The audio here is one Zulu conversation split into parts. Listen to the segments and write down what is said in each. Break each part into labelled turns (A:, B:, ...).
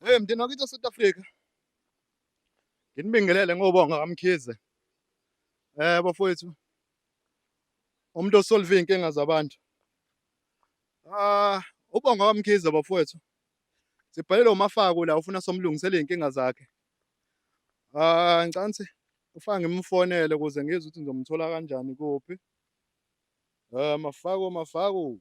A: Hey mndeni wakithi South Africa. Nginibingelele ngobonga kaMkhize. Eh bafowethu. Umuntu osolve inkinga zabantu. Ah ubonga kaMkhize bafowethu. Sibhalele uMafako la ufuna somlungisele inkinga zakhe. Ah ncansi ufaka ngimfonele ukuze ngizwe ukuthi ngizomthola kanjani kuphi. Eh mafako mafako.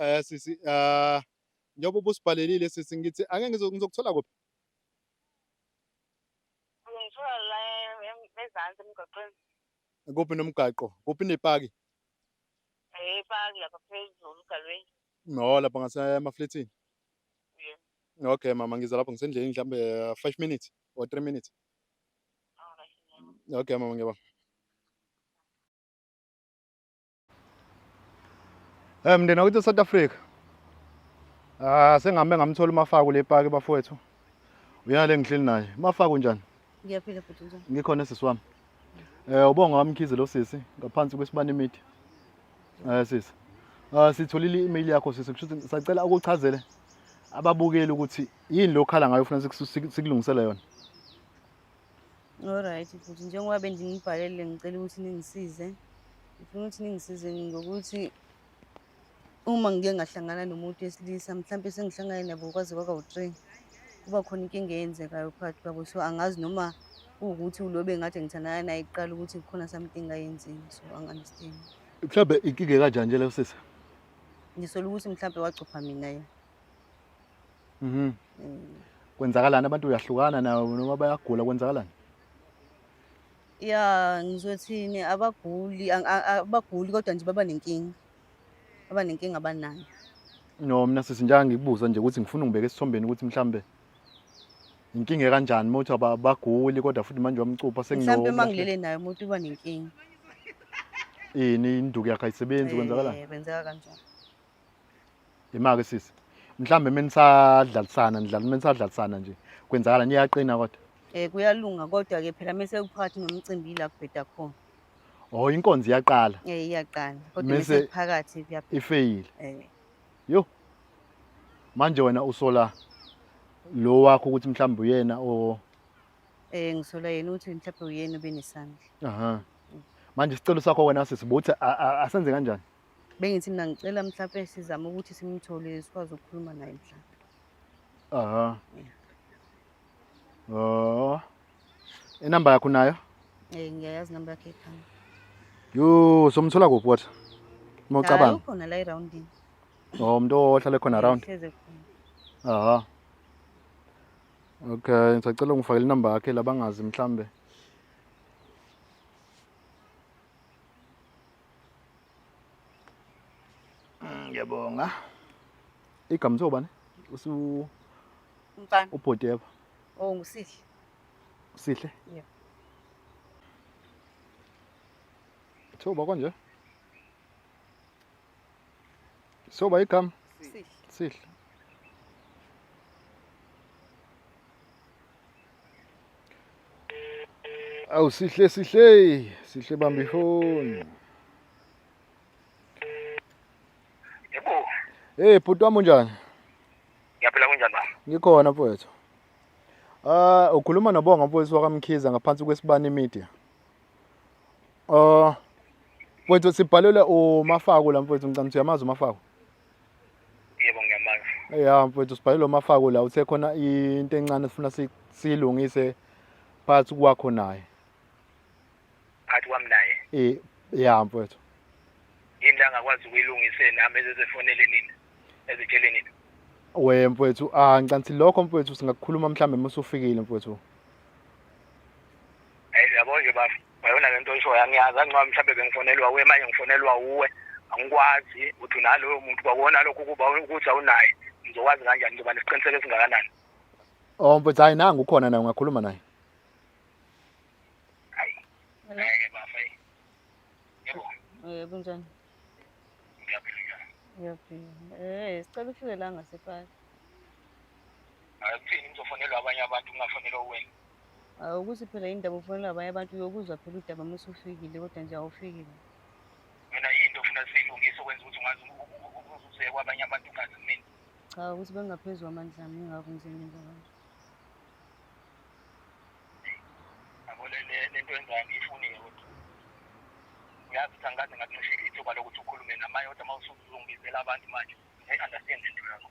B: Eh sisi ah
A: njengoba ubusibhalelile sisi ngithi ake ngizo- ngizokuthola kuphi?
B: Ngithola la em- em- ezansi emgaqweni. Kuphi
A: nomgaqo? Kuphi nepaki? Eh, epaki lapha
B: phezulu ugalweni. No, lapha
A: ngasemaflethini.
B: Yeah. Okay mama ngiza
A: lapho ngisendleleni mhlambe 5 minutes or 3 minutes. Alright.
B: Okay mama ngiyabonga.
A: Eh mndeni wakithi South Africa. Ah sengabe ngamthola uMafaku le park bafowethu. Uyena lengihleli naye. Mafaku njani? Ngiyaphila futhi njani?
B: Ngikhona sisi wami.
A: Eh ubonga wamkhize lo sisi ngaphansi kwesibani imithi. Eh sisi. Ah sitholile i-email yakho sisi kusho ukuthi sacela ukuchazele ababukeli ukuthi yini lokhala ngayo ufuna sikulungisele yona.
B: Alright futhi njengoba bendinibhalele ngicela ukuthi ningisize ngifuna ukuthi ningisize ngokuthi uma ngike ngahlangana nomuntu wesilisa mhlawumpe sengihlangane nabo kwaze kwaka u-three kuba khona inkinga eyenzekayo phakathi kwabo so angazi noma kuwukuthi ulobe ngathi ngithandana naye kuqala ukuthi kukhona something ayenzile so angi-understand mhlawumbe inkinga
A: ekanjani nje leyo sisi ngisola
B: ukuthi mhlawumpe wacupha mina yena Mhm.
A: Kwenzakalani abantu uyahlukana nawo noma bayagula kwenzakalani? Ya
B: ngizothini abaguli ang- a- a- abaguli kodwa nje baba nenkinga. Baba nenkinga abanayo.
A: No mina sisi njanga ngikubuza nje ukuthi ngifuna ungibeke esithombeni ukuthi mhlambe inkinga kanjani uma uthi aba- baguli kodwa futhi manje wamcupha Mhlawumbe uma senginokulahla ngilele naye
B: umuntu uba nenkinga. ini
A: induku yakhe ayisebenzi kwenzakalani? Eh, Kwenzeka kanjalo. Yimake sisi. Mhlambe menisadlalisana nidlala menisadlalisana nje. Kwenzakala niyaqina kodwa. Eh kuyalunga
B: kodwa ke phela mese kuphakathi nomcimbi la kubheda khona. Oh inkonzi
A: iyaqala. Eh iyaqala. Kodwa
B: mese kuphakathi kuyaphela. Ifeyile.
A: Eh. Yo. Manje wena usola lo wakho ukuthi mhlawumbe uyena o
B: Eh ngisola yena ukuthi mhlawumbe uyena obenesandla. Aha. Manje
A: isicelo sakho wena sisibuthi asenze kanjani? bengithi mina ngicela
B: mhlawumbe sizame ukuthi simthole sikwazi ukukhuluma naye mhlawumbe aha
A: oh inamba yakho nayo eh ngiyayazi namba
B: yakhe ekhaya yo
A: somthola kuphi wathi mocabanga ukhona la
B: eroundini oh umuntu
A: ohlale khona around aha okay ngisacela ungifakele inamba yakhe labangazi mhlambe Mm, ngiyabonga. Igama uthiwa bani? Usu
B: Mfana. ubhoti yebo.
A: Oh ngusihle. Sihle?
B: Yeah.
A: Uthiwa uba konje? Soba igama? Sihle. Sihle. Awu sihle sihle sihle bamba ifoni.
C: Yebo. Eh bhuti wami unjani?
A: Ngiyaphila
C: kunjani baba? Ngikhona mfowethu.
A: Ah ukhuluma noBonga mfowethu wakamkhiza ngaphansi kwesibani media. Ah uh, mfowethu sibhalelwe uMafako la mfowethu ngicamthi uyamazi uMafako.
C: yebo ngiyamazi ya mfowethu sibhale lo
A: mafako la uthe khona into encane sifuna siyilungise phakathi kwakho naye
C: phakathi kwami naye eh ya mfowethu
A: yini
C: la ngakwazi ukuyilungise nami ezezefonele nina ezitshele nina we mfowethu
A: ah ngicanthi lokho mfowethu singakukhuluma mhlambe musufikile mfowethu Hey,
C: yabo nje bafo. ngayona le nto ishoyo angiyazi angicabi mhlawumbe bengifonelwa uwe manje ngifonelwa uwe angikwazi ukuthi unaloyo muntu kwakona lokho ukuba ukuthi awunaye ngizokwazi kanjani ngizoba nesiqiniseko esingakanani oh
A: mfethu hayi nangu ukhona naye ungakhuluma naye hayi
C: ngeke bafa yebo eh kunjani ngiyaphila
B: ngiyaphila eh sicela ufike la ngasefaka hayi
C: kuthini ngizofonelwa abanye abantu ngingafonelwa wena Awu, ukuthi phela
B: indaba ufonela abanye abantu uyokuzwa phela udaba uma usufikile kodwa nje awufikile mina
C: yinto ofuna siyilungise okwenza ukuthi ungazi uzuze kwabanye abantu ungazi mina cha ukuthi bengingaphezu
B: kwamandla ami ingakho ngizengenza kanje
C: yabo le- le- le nto yenzayo ngiyifuniye kodwa uyazi ukuthi angikaze ngakuncishile ithuba lokuthi ukhulume namaye kodwa uma usungibizela abantu manje ngi-understand into yakho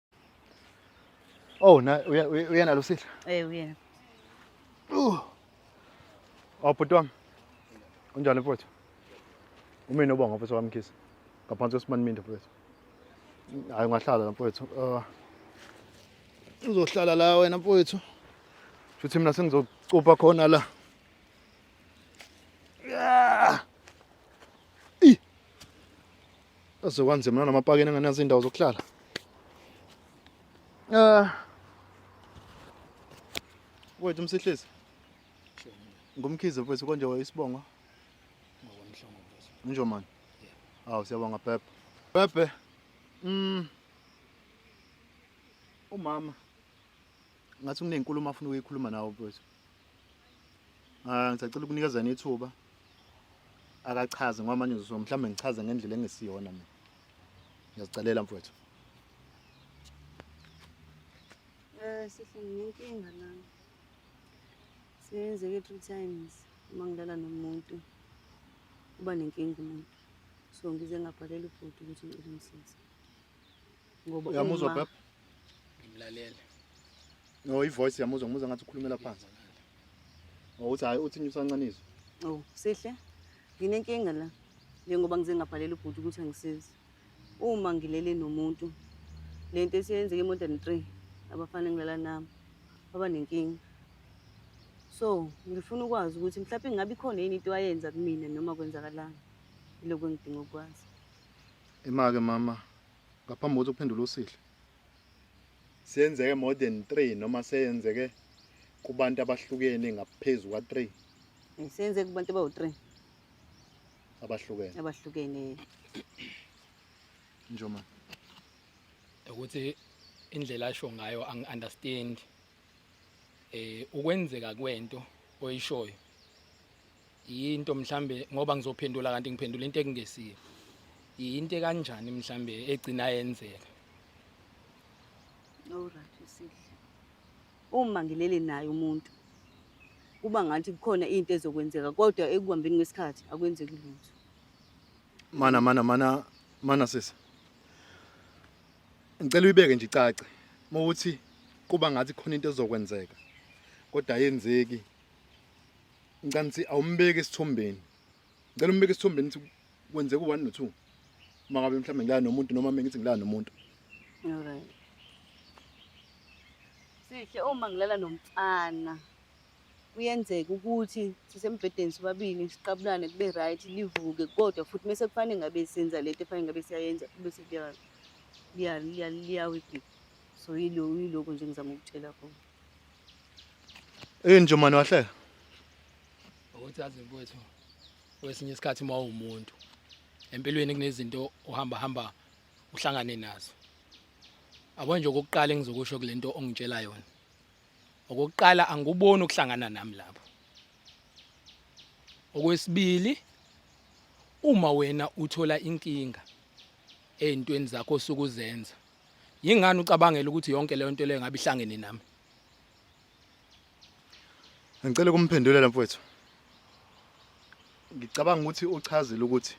A: Oh, na uyena lo sidla? Eh uyena.
B: Uh.
A: Oh bhuti wami. Unjani mfowethu? Umina ubonga mfowethu wamkhisa. Ngaphansi kwesimani minda mfowethu. Hayi ungahlala la mfowethu. Uh. Uzohlala la wena mfowethu. Futhi mina sengizocupa khona la. Yeah. Aze kwanzima namapakeni angenazo indawo zokuhlala. Eh. Wethu umsihlezi. Ngumkhize mfethu konje wayisibonga.
D: Ngokwamhlongo mfethu. Unjo man.
A: Awu siyabonga Pepe. Pepe. Mm. Umama. Ngathi kunenkulumo afuna ukuyikhuluma nawe mfethu. Ah, ngisacela ukunikezana ithuba. Akachaze ngoba manje uzosho mhlawumbe ngichaze ngendlela engesiyona mina. Ngiyazicelela mfowethu.
B: Eh sisi nginenkinga la. Senzeke three times uma ngilala nomuntu. Uba nenkinga umuntu. So ngize ngabhalela ubhuti ukuthi ngicela umsize. ngoba uyamuzwa bab
A: ngimlalele no i voice yamuzwa ngimuzwa ngathi ukhulumela phansi oh uthi hayi uthi ngisancanizwe oh sihle
B: nginenkinga la njengoba ngize ngabhalela ubhuti ukuthi angisize uma ngilele nomuntu lento esiyenzeke emodern 3 abafana ngilala nami baba nenkinga so ngifuna ukwazi ukuthi mhlawumbe ngabe ikhona yini into ayenza kumina noma kwenzakalani ilokho engidinga ukwazi Imake
A: mama ngaphambi kokuthi uphendule usihle. Siyenzeke more than 3 noma seyenzeke kubantu abahlukene ngaphezulu kwa 3 Senze
B: kubantu bawu 3 abahlukene.
A: abahlukene. Njoma.
D: ukuthi indlela asho ngayo angi-understand eh ukwenzeka kwento oyishoyo yinto mhlambe ngoba ngizophendula kanti ngiphendula into ekungesiyo yinto kanjani mhlambe egcina yenzeka
B: Alright usihle uma ngilele naye umuntu kuba ngathi kukhona into ezokwenzeka kodwa ekuhambeni kwesikhathi akwenzeki lutho mana mana mana
A: mana sisi ngicela uyibeke nje icace uma ukuthi kuba ngathi khona into ezokwenzeka kodwa ayenzeki ngicela ukuthi awumbeki esithombeni ngicela umbeke esithombeni ukuthi kwenzeka u-one no-two uma ngabe mhlawumbe ngilala nomuntu noma mina ngithi ngilala nomuntu
B: Alright. Sihle uma ngilala nomfana. kuyenzeka ukuthi sisembhedeni sobabili siqabulane kube right livuke kodwa futhi mese kufanele ngabe senza lento efanele ngabe siyayenza bese liyawigika so yiloko nje ngizama ukutshela khona yini
A: nje mani wahlela
D: ukuthi azi mfowethu kwesinye isikhathi uma uwumuntu empilweni kunezinto uhamba hamba uhlangane nazo abonje okokuqala engizokusho kule nto ongitshela yona okokuqala angikuboni ukuhlangana nami lapho okwesibili uma wena uthola inkinga ezintweni zakho osukuzenza yingani ucabangela ukuthi yonke leyo nto leyo ngabe ihlangene nami
A: ngicela ukumphendulela mfowethu ngicabanga ukuthi uchazile ukuthi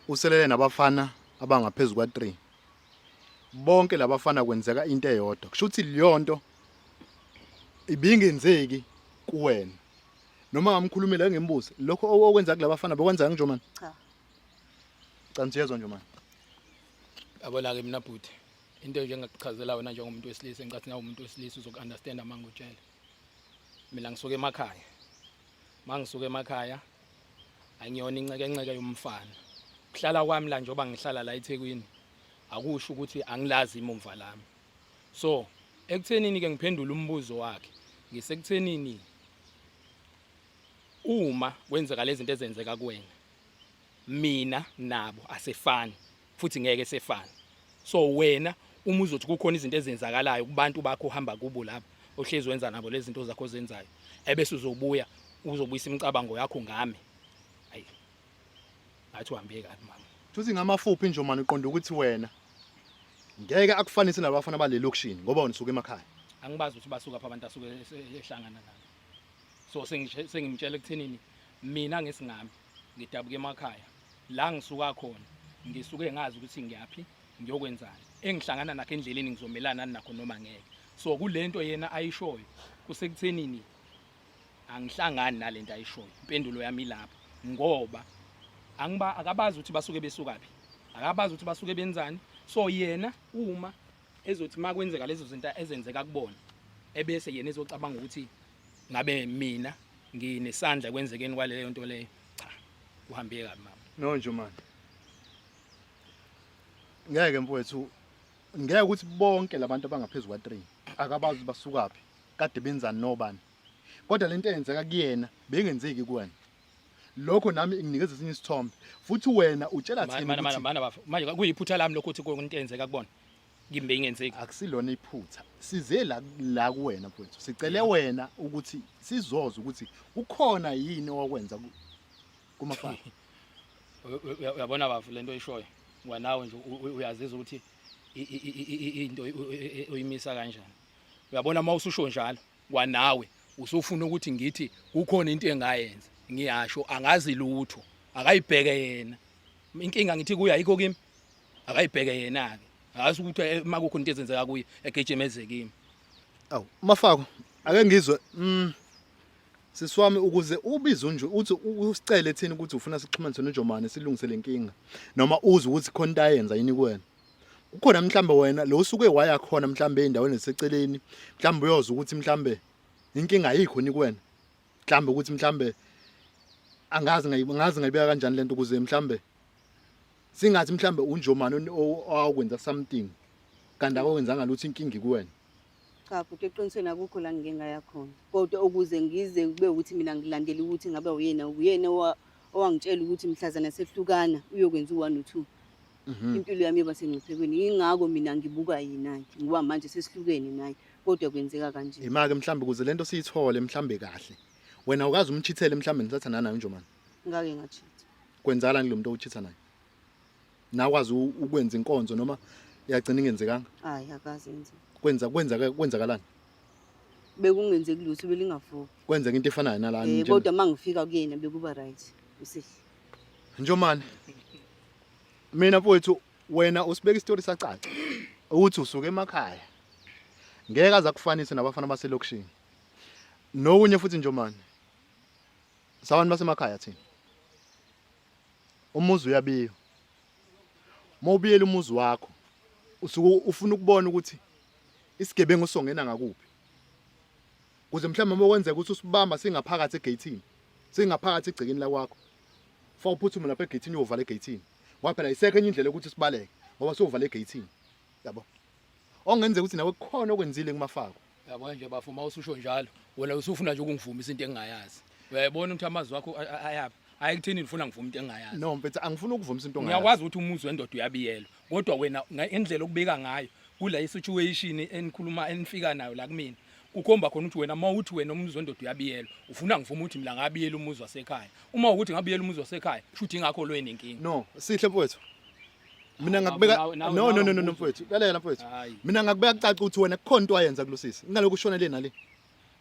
A: uselele nabafana abangaphezulu kwa-3 bonke labafana kwenzeka into eyodwa kusho ukuthi leyonto ibingenzeki kuwena noma ngamkhulumela ngembuzi lokho okwenza kulabafana bekwenza ngijoman cha
B: cha
A: ngiyezwa nje manje
D: yabona ke mina bhuti into nje engakuchazela wena njengomuntu wesilisa engicathi nawe umuntu wesilisa uzoku-understand uma ngikutshela mina ngisuke emakhaya uma ngisuke emakhaya angiyona incekenqeke yomfana kuhlala kwami la njengoba ngihlala la eThekwini akusho ukuthi angilazi imumva lami so ekuthenini ke ngiphendula umbuzo wakhe ngisekuthenini uma kwenzeka lezi zinto ezenzeka kuwena mina nabo asefani futhi ngeke sefana so wena uma uzothi kukhona izinto ezenzakalayo kubantu bakho uhamba kubo lapha ohlezi wenza nabo lezi zinto zakho ozenzayo ebese uzobuya uzobuyisa imicabango yakho ngami ayi ngathi uhambe kabi mama futhi ngamafuphi
A: nje manje uqonda ukuthi wena ngeke akufanise nabafana balelokishini ngoba wena usuke emakhaya angibazi ukuthi basuka
D: pha abantu asuke ehlangana nabo so sengimtshela ekuthenini mina ngesingami ngidabuke emakhaya la ngisuka khona ngisuke ngazi ukuthi ngiyaphi ngiyokwenzani engihlangana nakho endleleni ngizomelana nakho noma ngeke so kulento yena ayishoyo kusekuthenini angihlangani nalento ayishoyo impendulo yami ilapha ngoba angiba akabazi ukuthi basuke besuka phi akabazi ukuthi basuke benzani so yena uma ezothi makwenzeka lezo zinto ezenzeka kubona ebese yena ezocabanga ukuthi ngabe mina nginesandla kwenzekeni kwaleyo nto leyo cha uhambe kabi mama no nje manje
A: ngeke mfowethu ngeke ukuthi bonke labantu abangaphezulu kwa 3 akabazi basukaphi kade benzani nobani kodwa lento eyenzeka kuyena bengenzeki kuwena lokho nami nginikeza esinye isithombe futhi wena utshela thina ukuthi manje kuyiphutha
D: lami lokho ukuthi konke into eyenzeka kubona kimbe ingenzeki akusilona iphutha
A: size la la kuwena mfowethu sicele wena ukuthi sizoza ukuthi ukhona yini owakwenza ku- kumafana Uy-
D: uy- uy- uyabona bafu lento oyishoyo ngoba nawe nje u- u- uyazizwa ukuthi i- i- i- i- i- into uy- uy- uy- uyimisa kanjani uyabona uma ususho njalo kwanawe usufuna ukuthi ngithi kukhona into engayenza ngiyasho angazi lutho akayibheke yena inkinga ngithi kuye ayikho kimi akayibheke yena-ke hhayi ukuthi eh, uma kukho into ezenzeka kuye egejemeze kimi awu
A: mafako ake ngizwe um sisi wami ukuze ubize unje uthi usicele thina ukuthi ufuna sixhumanise nojomane silungise le nkinga noma uze ukuthi khona into ayenza yini kuwena ukhona mhlambe wena lo usuke waya khona mhlambe endaweni eseceleni mhlambe uyoza ukuthi mhlambe inkinga ayikho ni kuwena mhlambe ukuthi mhlambe angazi ngazi ngayibeka kanjani lento ukuze mhlambe singathi mhlambe unjomani oni- o- owakwenza something kanti akwenzanga lutho inkinga ikuwena cha futhi
B: eqinisweni akukho la ngike ngaya khona kodwa ukuze ngize kube ukuthi mina ngilandele ukuthi ngabe uyena uyena owa- owangitshela ukuthi mhlazana sehlukana uyokwenza u-one no-two Mhm. impilo yami yoba sengcuphekweni yingakho mina ngibuka yena-ke ngoba manje sesihlukene naye kodwa kwenzeka kanje yima-ke mhlambe ukuze le nto
A: siyithole mhlambe kahle wena ukazi umchithele mhlambe nisathandana nayo njomani ngake ngachitha
B: kwenzala ngilo muntu
A: owuchitha naye nakwazi ukwenza inkonzo noma yagcina ingenzekanga hayi akazi
B: yenza kwenza kwenza
A: kwenzakalani
B: bekungenzeki lutho belingavuki kwenzeka into efanayo
A: nalana eh kodwa mangifika kuyena
B: bekuba right usihle njomane
A: mina mfowethu wena usibeka isitori sacaca ukuthi usuke emakhaya ngeke aza kufanise nabafana baselokishini nokunye futhi njomane sabantu basemakhaya thina umuzi uyabiyo uma ubiyela umuzi wakho usuke ufuna ukubona ukuthi isigebengu songena ngakuphi kuze mhlawumbe uma kwenzeka ukuthi usibamba singaphakathi egeyithini singaphakathi egcekeni lakwakho fa uphuthume lapha egeyithini uyovala egeyithini ngoba phela isekho enye indlela yokuthi sibaleke ngoba siyovala egeyithini yabo ongenzeka ukuthi nawe kukhona okwenzile kumafako yabo nje bafo uma
D: ususho njalo wena usufuna nje ukungivumisa into engingayazi uyayibona ukuthi amazwi wakho ayaphi hayi kuthini ngifuna ngivume into engingayazi no mfethu angifuni ukuvumisa
A: into ongayazi ngiyakwazi ukuthi umuzi wendoda
D: uyabiyelwa kodwa wena ngendlela okubika ngayo kula isituation enikhuluma enifika nayo la kumina kukhomba khona ukuthi wena uma uthi wena umuzi wendoda uyabiyelwa ufuna ngivume ukuthi mina ngabiyela umuzi wasekhaya uma ukuthi ngabiyela umuzi wasekhaya shuthi ingakho lweni inkinga no sihle mfowethu
A: mina ngakubeka Nawu- nawu- no no nawu no no no, umbuzo. mfowethu lalela mfowethu Hayi. mina ngakubeka kucaca ukuthi wena kukhona into wayenza kulosisi kunalokhu ushona le nale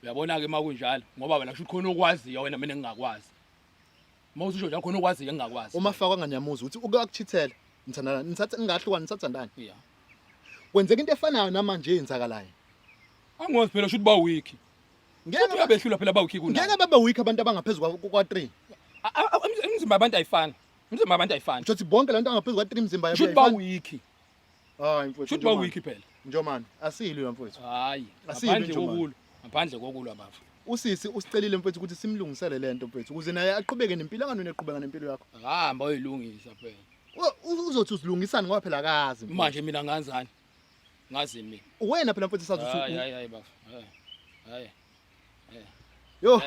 A: uyabona ke
D: makunjalo ngoba wena kusho ukuthi khona okwaziyo wena mina ngingakwazi uma ususho njalo khona okwaziyo engingakwazi uma fakwa nganyamuzi ukuthi
A: uke wakuchithela nithandana nithatha ningahlukani nisathandana ya
D: kwenzeka into
A: efanayo namanje eyenzakalayo angiwazi
D: phela shuthi ba weak ngeke uthi uyabehlula phela ba weak ngeke kunayo babe weak abantu abangaphezu
A: kwa- kwa 3 emzimba
D: abantu ayifani Imizimba
A: abantu
D: ayifani. Shothi
A: bonke lento
D: angaphezulu kwa 3
A: mzimba
D: yabo. Shothi
A: ba weak. Hayi mfowethu. Shothi ba weak phela.
D: Njomani, asilwe
A: mfowethu. Hayi. Ngaphandle
D: kokulwa. Ngaphandle kokulwa bafo. Usisi usicelile
A: mfowethu ukuthi simlungisele lento mfowethu ukuze naye aqhubeke nempilo anganweni eqhubeka nempilo yakho. Hamba uyilungisa
D: phela. Uzothi
A: usilungisani ngoba phela akazi. Manje mina nganzani?
D: Ngazi mina. Uwena phela mfowethu sazi usuku.
A: Hayi hayi bafo.
D: Hayi. Hayi.
A: Yo.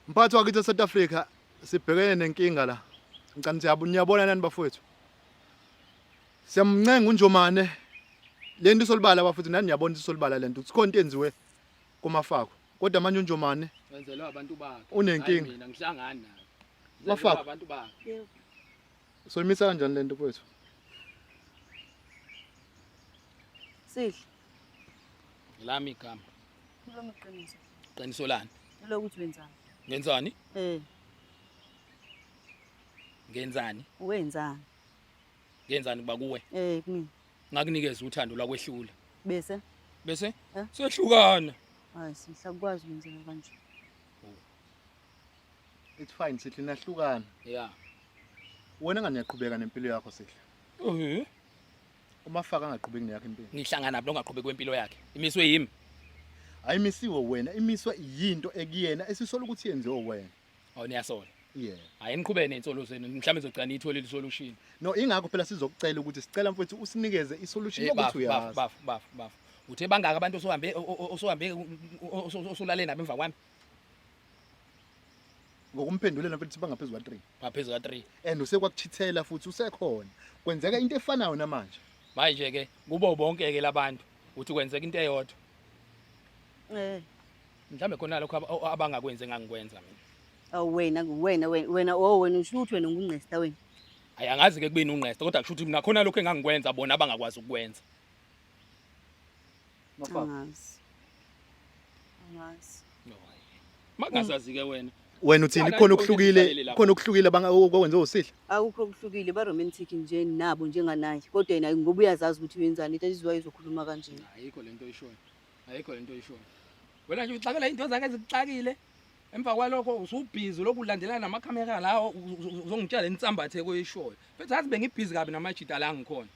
A: Mphathi wakithi eSouth Africa sibhekene nenkinga la. Ngicela siyabona niyabona nani bafowethu. Siyamncenga uNjomane le nto isolibala bafowethu nani niyabona isolibala le nto sikhona into enziwe kumafako kodwa manje uNjomane wenzelwa abantu
D: bakhe unenkinga mina ngihlangani naye mafako abantu
A: bakhe
B: Soyimisa
A: kanjani lento mfowethu?
B: Sihle.
D: Lami igama. Kulo
B: mqiniso. Qiniso lani?
D: Lokuthi wenzani?
B: Ngenzani?
D: Eh. Ngenzani? Wenzani? Ngenzani kuba kuwe? Eh kimi.
B: Ngakunikeza
D: uthando lwakwehlula. Bese?
B: Bese?
D: Eh? Sehlukana. Hayi, sihlakwazi
B: ukwenza kanje.
A: it's fine sihle nahlukana yeah
D: wena
A: ngani yaqhubeka nempilo yakho sihle mhm uma faka angaqhubeki neyakhe impilo nihlangana nabo ongaqhubeki
D: kwempilo yakhe imiswe yimi ayimisiwe
A: wena imiswe yinto ekuyena esisola ukuthi yenziwe wena awu niyasola
D: yeah hayi niqhubeke
A: nensolo
D: zenu mhlawumbe izogcina ithole le solution no ingakho phela
A: sizokucela ukuthi sicela mfowethu usinikeze isolution eh, ukuthi uyazi baf baf baf
D: uthe bangaka abantu osohambe osohambe osolale nabo emva kwami
A: ngokumphendulela mfethu bangaphezu kwa3 ngaphezu ka 3 and
D: usekwakuchithela
A: futhi usekhona kwenzeka into efanayo namanje manje ke
D: kubo bonke ke labantu uthi kwenzeka into eyodwa eh mhlambe khona lokho ab- o- abangakwenze ngangikwenza mina awu wena
B: wena wena wena oh wena usho ukuthi wena ungungqesta wena ayi angazi ke
D: kubeni ungqesta kodwa kusho ukuthi mina khona lokho engangikwenza bona abangakwazi ukukwenza
B: angazi
D: angazi mangazazi ke wena wena uthini khona
A: okuhlukile khona okuhlukile okwenze usihle akukho okuhlukile
B: ba romantic nje nabo njenganaye kodwa yena ngoba uyazazi ukuthi wenzani that is why izokhuluma kanje ayikho lento oyishoyo
D: ayikho lento oyishoyo wena nje uxakela into zakhe ezikuxakile emva kwalokho usubhizi lokhu ulandelana namakhamera lawo uzongitshela insambathe koyishoyo futhi azi bengibhizi kabi namajita la ngikhona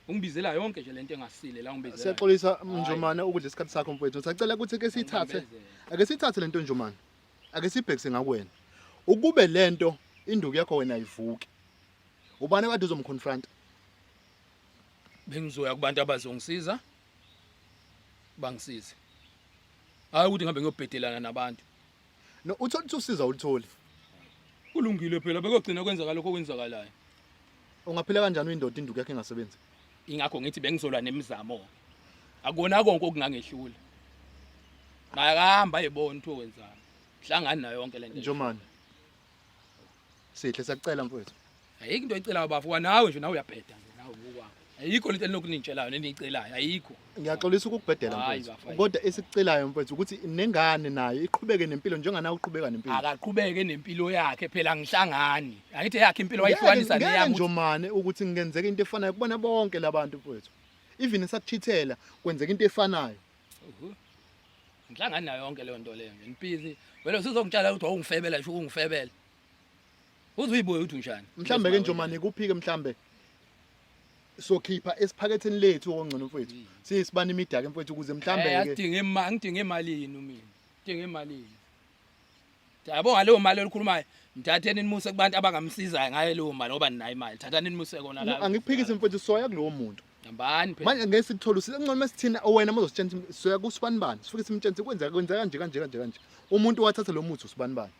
D: ungibizela yonke nje lento engasile la ungibizela siyaxolisa mnjomane
A: ukudla isikhathi sakho mfowethu sacela ukuthi ke sithathe ake sithathe lento njomane ake sibhekise ngakwena ukube lento induku yakho wena ayivuki ubani kade uzomconfront
D: bengizoya kubantu abazongisiza bangisize hayi ukuthi ngihambe ngiyobhedelana nabantu No uthola
A: ukuthi usiza ulutholi. Kulungile
D: phela bekogcina kwenzakala lokho kwenzakalayo. Ungaphila
A: kanjani uyindoda induku yakhe ingasebenzi? Ingakho ngithi
D: bengizolwa nemizamo. Akona konke okungangehlula. Makahamba yebona ukuthi wenzani. Hlangani nayo yonke lento. Njomani.
A: Sihle siyakucela mfowethu. Ayikho into oyicelayo
D: bafo kwanawe nje nawe uyabheda nje nawe ngokwakho. Ayikho into elinokunitshelayo neniyicelayo ayikho. Ngiyaxolisa ukukubhedela
A: Hayi, mfowethu. bafo, hayi. Kodwa esikucelayo mfowethu ukuthi nengane nayo iqhubeke nempilo njengana uqhubeka nempilo. Akaqhubeke nempilo
D: yakhe phela ngihlangani. Angithi yakhe impilo wayihlukanisa Ngeke- ngeke neyami. njomane ukuthi
A: ngenzeka into efanayo kubona bonke labantu mfowethu. Even esakuchithela kwenzeka into efanayo. ngihlangani
D: nayo yonke leyo nto leyo nje nipisi vele usuzongitshala ukuthi wawungifebela ngisho ukungifebela uze uyibuye ukuthi unjani mhlambe ke njomane
A: kuphike mhlambe sokhipha esiphaketheni lethu okungcono mfowethu siyisibani imidaka mfowethu ukuze mhlambe ke ngidinga imali ngidinga imali
D: yini mina ngidinga imali yini Yabonga leyo mali elikhulumayo. Mthatheni nimuse kubantu abangamsizayo ngayo leyo mali ngoba ninayo imali. Thathani nimuse kona la. Angikuphikisi mfethu soya
A: kulowo muntu. Hambani phela. Manje ngeke
D: sithole usile ngcono
A: mesithina wena mozositshentha soya kusibani bani. Sifike simtshenthe kwenzeka kwenzeka kanje kanje kanje kanje. Umuntu wathatha lo muthi usibani bani.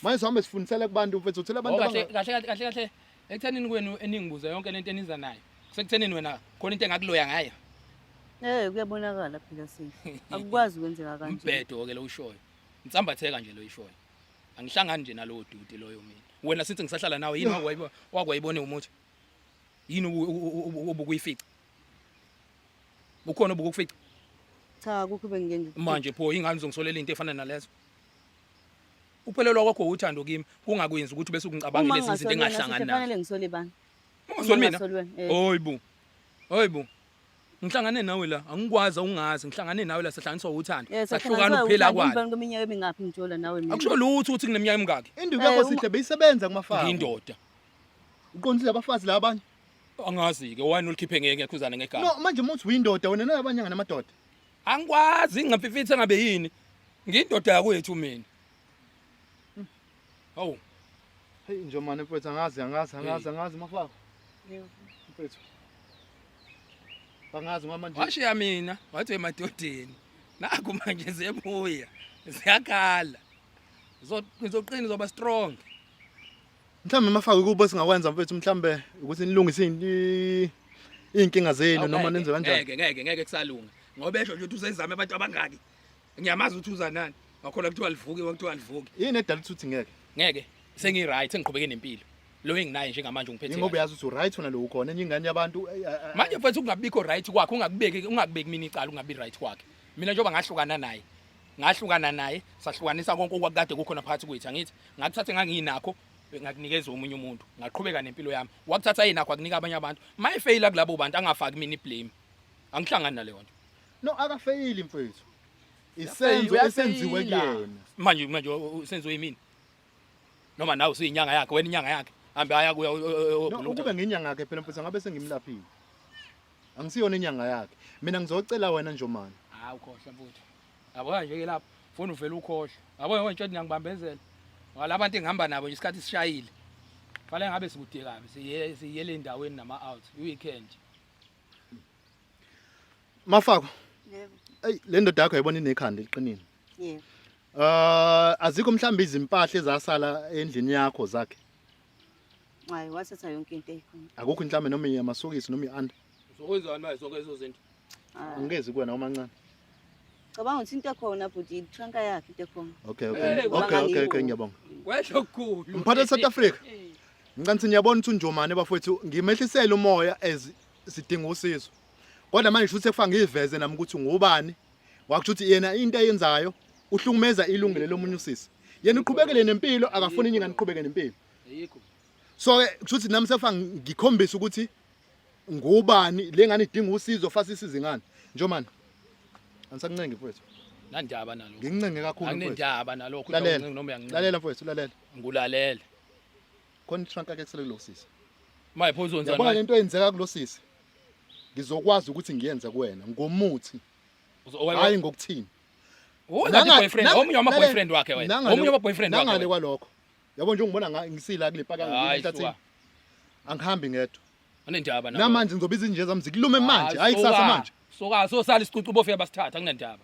A: Manje sihambe sifundisele kubantu mfethu uthela abantu kahle kahle kahle kahle
D: ekuthenini kwenu eningibuza yonke lento eniza nayo. Sekuthenini wena khona into engakuloya ngayo. Eh
B: kuyabonakala phela sisi. Akukwazi kwenzeka kanje. Umbhedo ke lo ushoyo.
D: Ngisambatheka nje lo ishoyo. Angihlangani nje nalowo duty loyo mina. Wena sithi ngisahlala nawe yini wakwayibo wakwayibone umuthi? Yini obukuyifica? Ukhona obukufica? Cha akukho
B: bengike ngikufica. Manje pho ingane
D: uzongisolela into efana nalezo. Uphelelwa kwakho uthando kimi kungakwenzi ukuthi bese ukungicabange lezi zinto engahlangani nazo. Kufanele ngisole bani?
B: Ungasoli mina.
D: Oyibo. Oyibo. ngihlangane nawe la angikwazi awungazi ngihlangane nawe la sihlanganiswa uthando Yes, sahlukana ukuphila kwalo Ngibani kweminyaka emingaphi
B: ngithola nawe mina. akusho lutho ukuthi ngineminyaka
D: emingaki induku yakho Eh, uma- sihle
A: beyisebenza kumafazi ngiyindoda uqondile abafazi la abanye
D: angazi-ke wani ulikhiphe ngeke ngekhuzane ngegama no manje uma uthi uyindoda
A: wena nalabanye nganamadoda angikwazi
D: ngingamfifitha ngabe yini ngiyindoda yakwethu mina Hawu. Hey
A: njomane mfethu angazi angazi angazi angazi mafaka. Yebo.
B: Mfethu.
A: Angazi mama nje. Washiya mina wathi
D: emadodeni. Naku manje zebuya. Ziyakhala. Ngizoqina zoba strong.
A: Mhlawumbe mafaka ukuba singakwenza mfethu mhlawumbe ukuthi nilungise inkinga zenu noma nenze kanjani. Ngeke ngeke ngeke kusalunga.
D: Ngoba esho nje uthi usezame abantu abangaki. ngiyamazi ukuthi uza nani wakhona kuthiwa livuke wakuthiwa livuke yini edala ukuthi uthi ngeke
A: ngeke sengi
D: right sengiqhubeke nempilo lo enginaye njengamanje ungiphethe ingoba yazi ukuthi right wena lo
A: ukhona enye ingane yabantu eh, eh, eh. manje mfethu
D: kungabikho right kwakhe ungakubeki ungakubeki mina icala ungabi right kwakhe mina njengoba ngahlukana naye ngahlukana naye sahlukanisa konke okwakade kukhona phakathi kwethu angithi ngakuthathe nganginakho ngakunikeza omunye umuntu ngaqhubeka nempilo yami wakuthatha yena akho akunika abanye abantu mayefeyila kulabo bantu angafaki mina iblame angihlangani naleyo nto No akafeyili
A: mfethu. Isenzo esenziwe kuyena. Manje manje
D: usenziwe yimini. Noma nawe usuyinyanga yakhe, wena inyanga yakhe. Hambe aya kuya oguluka. Ukube nginyanga
A: yakhe phela mfethu ngabe sengimlaphile. Angisiyona inyanga yakhe. Mina ngizocela wena njomani. Hawu khohle mfuthu.
D: Yabo nje ke lapho. Funa uvela ukhohle. Yabo yonke into ngiyangibambezela. Wala abantu engihamba nabo nje isikhathi sishayile. Fale ngabe sikude kabi. Siye siye le ndaweni nama out. Weekend.
A: Mafako. Yebo.
B: Ey le ndoda yakho
A: yayibona inekhanda eliqinile. Yebo. Uh azikho mhlawumbe izimpahla ezasala endlini yakho zakhe.
B: Hayi wasetha yonke into eyikhona. Akukho inhlame noma
A: yamasokisi noma ianda. Uzokwenzani manje sonke
D: lezo zinto? Ah. Angezi kuwena
A: omancane. Cabanga
B: ukuthi into ekhona bhuti itranka yakhe into ekhona. Okay okay. Hey, Okay okay okay
A: bangakiwo. ngiyabonga. Kwehlo kukhulu.
D: Mphathi South Africa.
A: Ngicela niyabona ukuthi unjomane bafowethu ngimehlisele umoya as sidinga usizo kodwa manje shuthi sekufa ngiveze nami ukuthi ngubani wakusho ukuthi yena into ayenzayo uhlukumeza ilungelo lomunye usisi yena uqhubekele nempilo akafuni inyinga niqhubeke nempilo ayikho
D: so ke
A: kushuthi nami sefa ngikhombisa ukuthi ngubani lengane idinga usizo fasa isize ngani njomani angisakuncengi mfowethu nandaba nalo
D: ngincenge kakhulu mfowethu
A: anginendaba nalokho lalela
D: noma uyangincenge lalela
A: mfowethu
D: lalela
A: ngulalela
D: khona
A: itrunk ake kusele kulosisi maye pho uzonza
D: yabona lento eyenzeka kulosisi
A: ngizokwazi ukuthi ngiyenze kuwena ngomuthi hayi ngokuthini
D: omunye wama boyfriend wakhe wena omunye wama boyfriend wakhe nangale kwalokho
A: yabo nje ungibona ngisila kule paka ngitathe
D: angihambi
A: ngedwa anendaba namanje
D: ngizobiza inje zami
A: zikulume manje hayi kusasa manje soka so sala isicucu
D: bofika basithatha kunendaba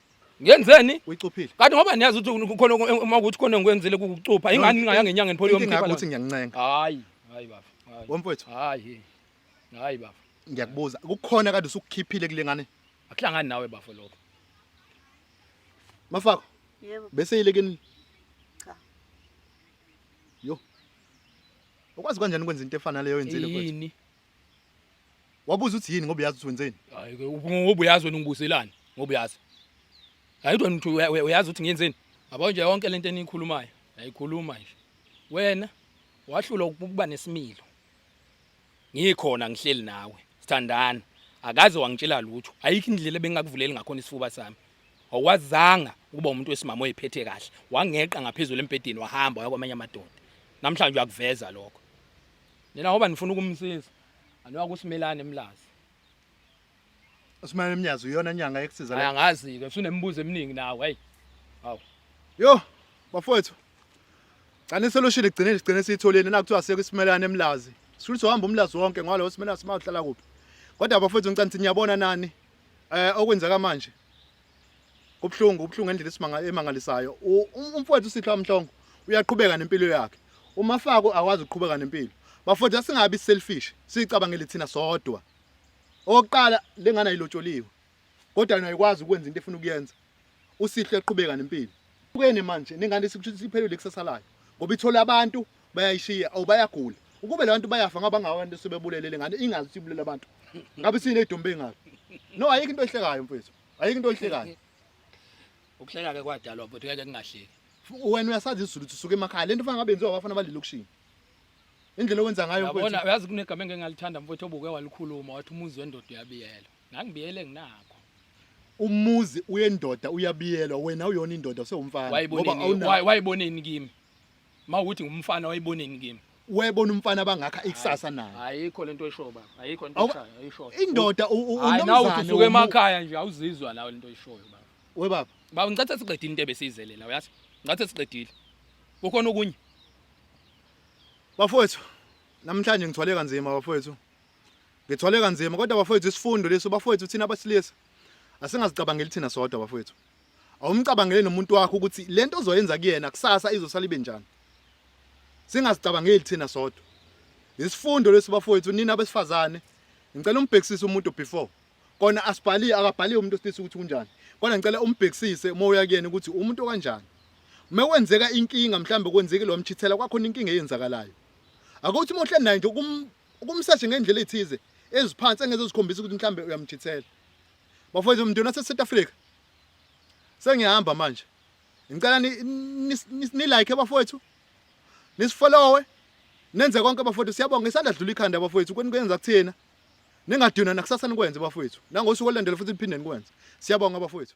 A: ngenzeni
D: uyicuphile kanti
A: ngoba niyazi ukuthi
D: kukhona uma ukuthi khona ngikwenzile kukucupha ingani ningaya ngenyanga ngiphole yomkhipha inkinga ukuthi ngiyancenga
A: hayi hayi baba
D: hayi womfowethu hayi hayi baba ngiyakubuza kukhona
A: kade usukukhiphile kule ngane akuhlangani nawe bafo
D: lokho
A: mafako yebo bese yilekeni
B: cha
A: yo ukwazi kanjani ukwenza into efana leyo yenzile mfowethu yini Wabuza uthi yini ngoba uyazi ukuthi wenzeni? Hayi ke ngoba
D: uyazi wena ungibuzelani ngoba uyazi. Hayi kodwa uthi uya- uya- uyazi ukuthi ngiyenzeni? Yabo nje yonke lento eniyikhulumayo, yayikhuluma nje. Wena wahlula ukuba nesimilo. Ngikhona ngihleli nawe, sithandana. Akaze wangitshela lutho. Ayikho indlela bengakuvuleli ngakhona isifuba sami. Awazanga ukuba umuntu wesimama oyiphethe kahle. Wangeqa ngaphezulu embhedeni wahamba waya kwamanye amadoda. Namhlanje uyakuveza lokho. Nina ngoba nifuna ukumsiza. Anoya kusimelane emlazi.
A: Usimane emnyazi uyona nyanga ekusiza la. Angazi ke usunemibuzo
D: eminingi nawe hey. Hawu. Yo,
A: bafowethu. Cani solution igcine igcine siyitholeni la kuthiwa seke isimelane emlazi. Sifuna uhamba umlazi wonke ngalo simelane simahlala kuphi. Kodwa bafowethu ngicela nithi niyabona nani eh okwenzeka manje. kubuhlungu kubuhlungu ngendlela isimanga emangalisayo umfowethu sitho amhlongo uyaqhubeka nempilo yakhe umafako akwazi ukuqhubeka nempilo bafowethu asingabi selfish sicabangele thina sodwa oqala lengane ayilotsholiwe kodwa yena ayikwazi ukwenza into efuna ukuyenza usihle eqhubeka nempilo ukene manje nengane siphelile kusasalayo ngoba ithola abantu bayayishiya or bayagula ukube labantu bayafa ngaba ngawo abantu sebebulele lengane ingazi ukuthi ibulela abantu ngabe sine idumbe ingalo no ayikho into ehlekayo mfethu ayikho into ehlekayo ukuhleka
D: ke kwadalwa but ngeke kungahleki wena uyasazi
A: isizulu usuke emakhaya lento fanele ngabenziwa abafana balelokishini indlela owenza ngayo mfethu yabona uyazi kunegama engeke
D: ngalithanda mfethu obuke walikhuluma wathi umuzi wendoda uyabiyela ngangibiyele nginako umuzi
A: uyendoda uyabiyelwa wena uyona indoda usewumfana ngoba awuna wayiboneni
D: kimi mawukuthi ngumfana wayiboneni kimi webona umfana
A: abangakha ikusasa naye ayikho lento esho baba
D: ayikho into eshayo ayishoyo indoda Hayi,
A: nawe unomzane uthi
D: usuke womu- emakhaya nje awuzizwa nawe lento oyishoyo baba we baba baba
A: ngicathe siqedile into
D: ebesiyizelela uyazi ngicathe siqedile kukhona okunye
A: bafowethu namhlanje ngithwale kanzima bafowethu ngithwale kanzima kodwa bafowethu isifundo leso bafowethu thina abasilisa asingazicabangeli thina sodwa bafowethu awumcabangele nomuntu wakho ukuthi lento ozoyenza kuyena kusasa izosala ibe njani singazicabangeli thina sodwa isifundo lesi bafowethu nina abesifazane ngicela umbhekisise umuntu before kona asibhali akabhaliwe umuntu osilisa ukuthi kunjani kona ngicela umbhekisise uma uya kuyena ukuthi umuntu kanjani uma kwenzeka inkinga mhlawumbe kwenzeke lo mchithela kwakhona inkinga eyenzakalayo akuthi uma uhleli naye nje ukumseshe ngendlela ethize eziphansi engeze zikhombisa ukuthi mhlawumbe uyamchithela Bafowethu mndeni wase South Africa. Sengiyahamba manje. Ngicela ni, ni, ni, ni like bafowethu. Nisifollowe. Nenze konke bafowethu siyabonga isandla dlula ikhanda bafowethu kweni kwenza kuthina. Ningadinwa nakusasa nikwenze bafowethu. Nangosuku olandela futhi niphinde nikwenze. Siyabonga bafowethu.